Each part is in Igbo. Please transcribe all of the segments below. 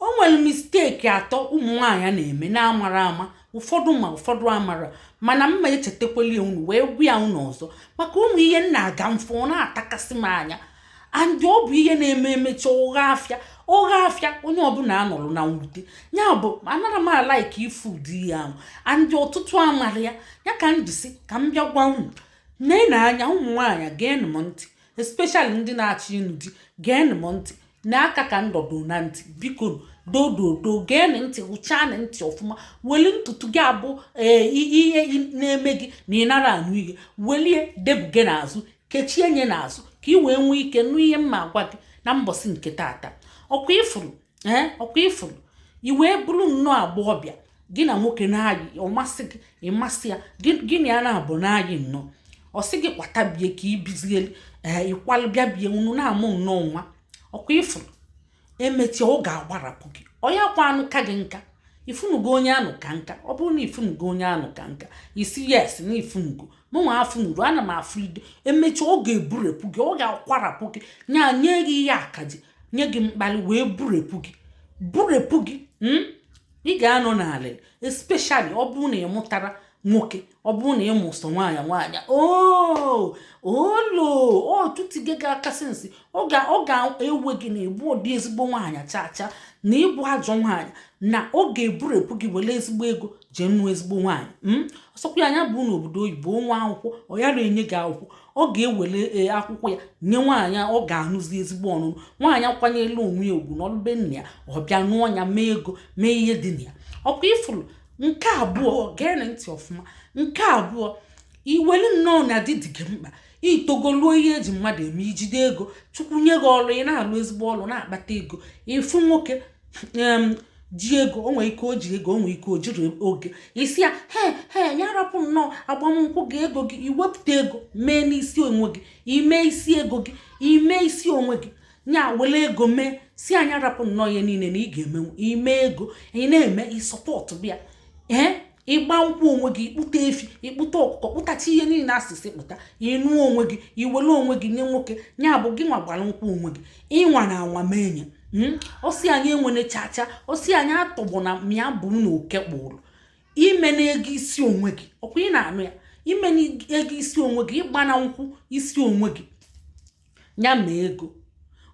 o nwere mistake atọ ụmụ nwaanyị na-eme na-amara ama ụfọdụ ma ụfọdụ amara mana m ma-echetakwali ya unu wee gwa ya unu ọzọ maka ụmụ ihe m na-aga m fụ ọ na-atakasị m anya and ọ bụ ihe na-eme emecha ọ ghọ afịa ọ ghọ afịa onye ọbụla anọrọ na mwute ya bụ anara m alike ịfụ ụdị ihe ahụ and ọtụtụ amara ya ya ka m ji sị ka m bịa gwa unu nee na anya ụmụ nwaanyị geenụ m ntị especially ndị na-achọ ịnụ di geenụ m ntị n'aka ka m dọdo na ntị biko doo doo doo geenụ ntị hụchaanụ ntị ọfụma weli ntutu gị a bụ ihe na-eme gị na ị nara anụ ihe welie debuge n'azụ kechie nya n'azụ ka ị wee nwee ike nụ ihe m ma-agwa gị na mbọsị nke tata ọkwa ị fụrụ ee ọkwa ị fụrụ i wee bụrụ nnọọ agbọghọbịa gị na nwoke na-ayị ọ masị gị ị masị ya gị na ya naabọ na-ayị nnọọ ọ sị gị kwata bie ka i bizie ee ị kwalụ bịa bie unu na-amụ nnọọ nwa ọkwa ị fụrụ emechie ọ ga-agbarapụ gị ọ nya kwa anụka gị nka ị fụnugo onye anụka nka ọ bụrụ na ị fụnugo onye anụka nka ị sị yes na ị fụnugo mụnwa afụnuru ana m afụ ido emechaa ọ ga-eburepụ gị ọ ga-akwarapụ gị nya nye gị ihe akaje nye gị mkpali wee burepụ gị burepụ gị hmm? ị ga-anọ n'ala especially ọ bụrụ na ị mụtara nwoke ọ bụrụ na ị mụ sọ nwaanyị nwaanyị oh, olo ọ tụtige gị aka sị nsị ọ ga-ewe gị na ị bụdị ezigbo nwaanyị chaa chaa na ị bụ ajọ nwaanyị na ọ ga-eburepụ gị were ezigbo ego jee nụọ ezigbo nwaanyị hmm? ọ sọkwa ya nya bu n'obodo oyibo nwee akwụkwọ ọ yara enye gị akwụkwọ ọ ga-ewere e, akwụkwọ ya nye nwaanyị ọ ga-anụzi ezigbo ọnụnụ nwaanyị kwanyelu onwe ya ugwu nọlụ be nna ya ọ bịa nụọ ya mee ego mee ihe dị na ya ọkwa ị fụrụ nke abụọ geenụ ntị ọfụma nke abụọ i welu nnọọ na di dị gị mkpa i togoluo ihe eji mmadụ eme i jide ego chukwu nye gị ọlụ ị na-alụ ezigbo ọlụ na-akpata ego ị fụ nwoke ji ego o nwere ike o ji ego o nwere ike o jiri ego ị sị ya he he nya rapụ nnọọ agbamnkwụ gị ego gị i wepụta ego mee n'isi onwe gị i mee isi ego gị i mee isi onwe gị nya wele ego mee sị nya rapụ nnọọ ihe niile na ị ga-emenwu i mee ego ị na-eme i support bịa ee ị gba nkwụ onwe gị ị kpụta efi ị kpụta ọkụkọ kpụtacha ihe niile a sị sị kpụta ị nụ onwe gị i were onwe gị nye nwoke nya bụ gị nwa gbara nkwụ onwe gị ị nwana anwa mee nya hmm? ọ sị anyị enwene chacha ọ sị anyị atọgbọ na mịa bụ na oke kpụrụ i mena ego isi onwe gị ọkwa ị na-anụ ya i mena ego isi onwe gị ị gbana nkwụ isi onwe gị nya mee ego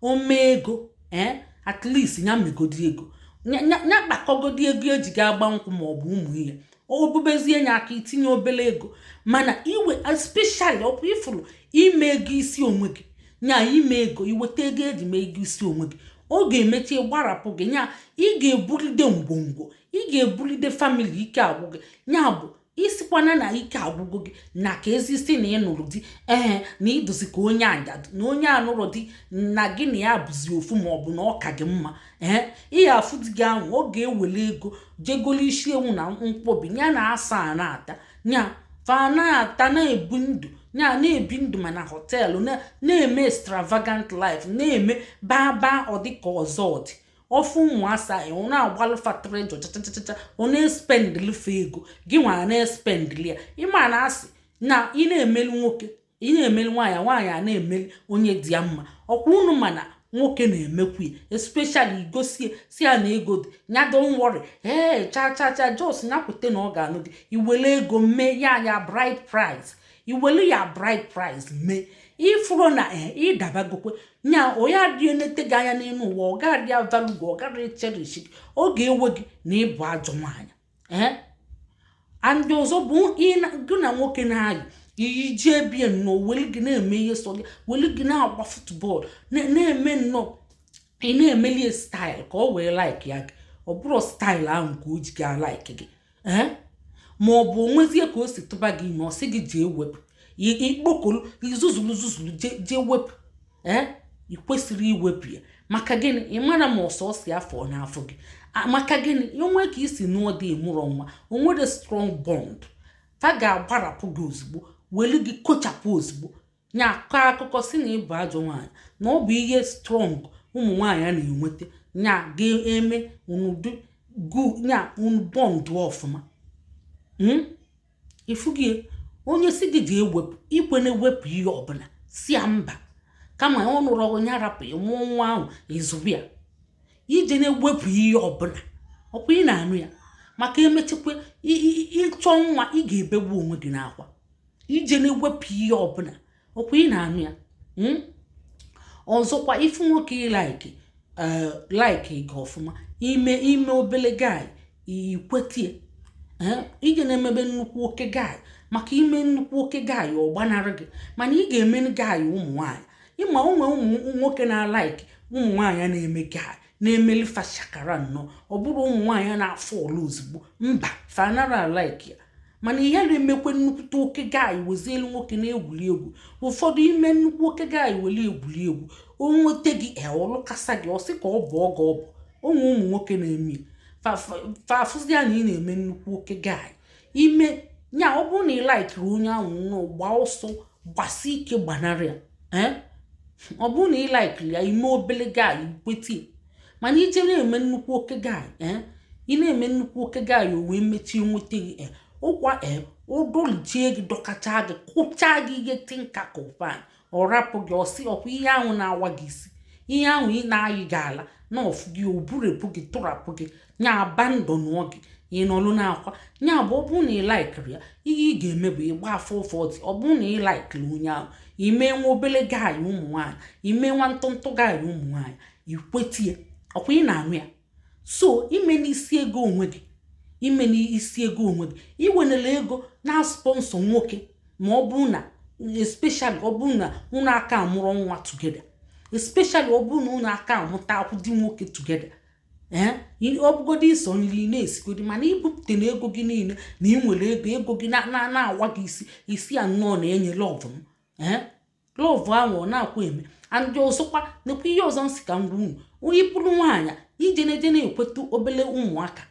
o mee ego ee at least nya megodi ego nya kpakọgodi ego eji ga agba nkwụ ma ọ bụ ụmụ ihe obubezie nye aka itinye obele ego mana iwe especially ọkwa ifuru ime ego isi onwe gị nya ime ego iweta ego eji mee ego isi onwe gị ọ ga-emechi gbarapụ gị nya ị ga-ebulide ngwongwo ị ga-ebulide famili ike agwụ gị nya bụ isikwana na ike agwụgo gị na ka ezisi na ịnụrụ di ee na ịdụzi ka onye ajadu na onye anụrụ di na gị na ya bụzi ofu ma ọ bụ na ọ ka gị mma ee ihe afụ di gị ahụ ọ ga-ewere ego jee golo isi ewu na nkwobi nya na asa a na-ata ya fa na-ata na-ebu ndụ nya na-ebi ndụ ma na hotel na-eme extravagant life na-eme baa baa ọdịka ọzọ ọdị ofu ụmụ asa ya ọ na-agbalụ fa tịrị jọ chachachacha ọ na-espendili fa ego gị nwa na-espendili ya ịma na asị na ị na-emeli nwoke ị na-emeli nwaanyị nwaanyị a na-emeli onye dị ya mma ọkwa unu ma na nwoke na-emekwu ya especially igosie si ya na ego dị nya don't worry ee cha cha cha just nya kwute na ọ ga-anụ gị iwere ego mee ya ya bride price iwelu ya bride price mee ifuru na eh, ịdabagokwe nya onye adị enete gị anya n'elu ụwa ọ gaghị avalue gị ọ gaghị cherish gị ọ ga-ewe gị na ịbụ ajọ nwaanyị eh? and ọzọ bụ gị na nwoke na-ayị iyi jee bie nnọọ weli gị na-eme ihe sọ gị weli gị na-agba football na-eme nnọọ ị na-emelie style ka ọ wee like ya gị ọ bụrụ style ahụ ka o ji ga alike gị ee ma ọ bụ onwezie ka o si tụba gị ime ọ sị gị jee wepụ ikpokolu izuzulu zuzulu jee wepụ ee ị kwesịrọ iwepụ ya maka gịnị ị mara ma ọ sọsọ ya fọ n'afọ gị maka gịnị onwe ka isi nụọ di ịmụrọ nwa onwerọ strong bond fa ga-agbarapụ gị ozugbo welu gị kochapụ ozugbo nya akọ akụkọ si na ịbụ ajọ nwaanyị na ọ bụ ihe strong ụmụ nwaanyị a na-enweta nya ga-eme nya unu bond ọfụma hmm? ifugi onye si gị jee wepụ ikwena ewepụ ihe ọbụla si ya mba kama ọ nụrọ nya rapụ ịmụọ nwa ahụ ịzụba ya ijena ewepụ ihe ọbụla ọkwa ị na-anụ ya maka emechakwa ịchọ nwa ị ga-ebegbu onwe gị n'akwa ijena ewepụ ihe ọbụla ọkwa ị na-anụ ya hmm? ọzọkwa ifu nwoke ịlike eh, like gị ọfụma ime ime obele guy ikwetie eh, ijena emebe nnukwu oke guy maka ime nnukwu oke guy ọ gbanarị gị mana ị ga-eme guy ụmụ nwaanyị ịma onwe ụmụ nwoke na-alike ụmụ nwaanyị na-eme guy na-emeli fa shakara nnọọ ọ bụrụ ụmụ nwaanyị na-afọlụ ozugbo mba fa anara alaiki ya mana ihe na-emekwe nnukwute oke guy wezielu nwoke na-egwuri egwu ụfọdụ i me nnukwu oke guy were egwuri egwu o nweta gị ọ lụkasa gị ọ sị ka ọ bụ ọ ga ọ bụ o nwe ụmụ nwoke na-eme fa fụzịa na ị na-eme nnukwu oke guy i me nya ọ bụrụ na ị laikirọ onye ahụ nnọọ gbaa ọsọ gbasi ike gbanarị ya eh? ọ bụrụ na ị laikiri ya i me obele guy kwete mana i je na-eme nnukwu oke guy eh? ị na-eme nnukwu oke guy o wee mechie nweta gị eh? ọ kwa ọ dọlịchie gị dọkacha gị kụcha gị ihe tinka kụ pan ọ rapụ gị ọ sị ọ kwa ihe ahụ na-awa gị isi ihe ahụ ị na-ayị gị ala na ọ fụ gị o burepu gị tụrapụ gị nya abandon gị ị nọlụ n'akwa nya bụ ọ bụrụ na ị laikirọ ya ihe ị ga-eme bụ ịgba 440 ọ bụrụ na ị laikiri onye ahụ i me nwa obele guy ụmụ nwaanyị i me nwa ntụntụ guy ụmụ nwaanyị i kweta ya ọ kwa ị na-anụ ya so ime n'isi ego onwe gị ime n'isi ego onwe gị i wenela ego na-asponsor nwoke ma ọ bụrụ na especially ọ bụrụ na unu aka amụrọ nwa together especially ọ bụrụ na unu aka amụta akwụ di nwoke together ee ọ bụgodo isi nri na-esigodi mana i bupụtana ego gị niile na ị nwere ego ego gị na-awa gị isi i si ya nnọọ na-enye love m ee love ahụ ọ na-akwa eme and ọzọkwa nekwa ihe ọzọ m sị ka m gwa unu ị bụrụ nwaanyị i je na-eje na-ekweta obele ụmụaka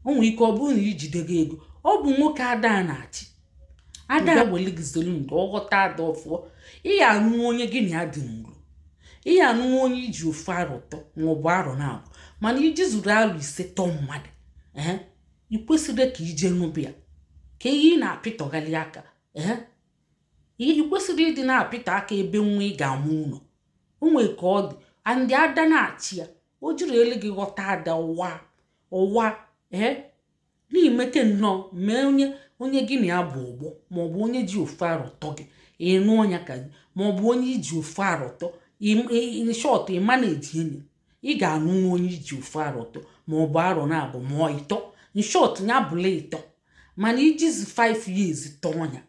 o nwere ike ọ bụrụ na i jidego ego ọ bụ nwoke ada na-achị ada weli gị zelu ndo ọ ghọta ada ọfụọ ị ya anụ onye gị na ya dị nro ị ya anụ onye i ji ofu arọ tọ maọbụ arọ naabọ mana i ji zuru arọ ise tọọ mmadụ ee ị kwesịrọ ka i je nụba ya ka ihe ị na-apịtọgharị aka ee ihe ị kwesịrị ịdị na-apịtọ aka ebe nwa ị ga-amụ nọ o nwee ka ọ dị and ada na-achị ya o jiri elu gị ghọta ada ụwa ụwa ee na i meke nnọọ mee onye onye gị na ya bụ ọgbọ maọbụ onye ji ofe arụtọ gị ịnụ ọnya ka gị maọbụ onye i ji ofu arọ tọ in short ị ma na-eji enyi ị ga-anụnwu onye i ji ofu arọ tọ maọbụ arọ naabọ ma ịtọ in short ya bụlụ ịtọ mana i jizi 5 years tọọ ya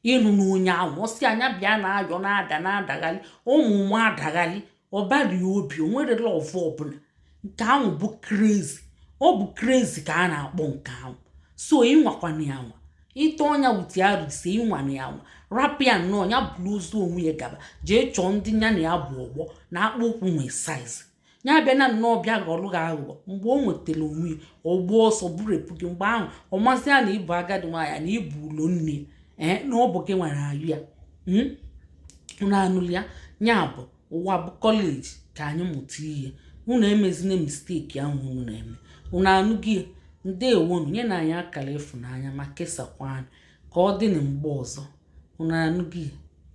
ị nụna onye ahụ ọ sịa nya bịa na-ayọ na-ada na-adagharị ọnwụ na-adagharị ọbara obi o nwerọ love ọbụla nke ahụ bụ crazy ọ bụ crazy ka a na-akpọ nke ahụ so ị nwakwana ya anwa ị tọọ nya with arọ ise ị nwana ya anwa rapụ ya nnọọ ya buru ozu onwe ya gaba jee chọọ ndị ya na ya bụ ọgbọ na akpụ ụkwụ nwee size ya abịa na nnọọ bịa ghọrọ gị aghụghọ mgbe o nwetara onwe ya ọ gbaa ọsọ burupụ gị mgbe ahụ ọ mazie na ị bụ agadi nwaanyị na ị bụ ụlọ nne ee na ọ bụ gị nwere ayụ ya hmm? unu anụrụ ya ya bụ ụwa bụ kọleji ka anyị mụta ihe unu emezina misteki ahụ unu na-eme unu anụghị ya ndewonu nyenụ anyị akara ịfụnanya ma kesakwa anyị ka ọ dị na mgbe ọzọ unu anụghị ya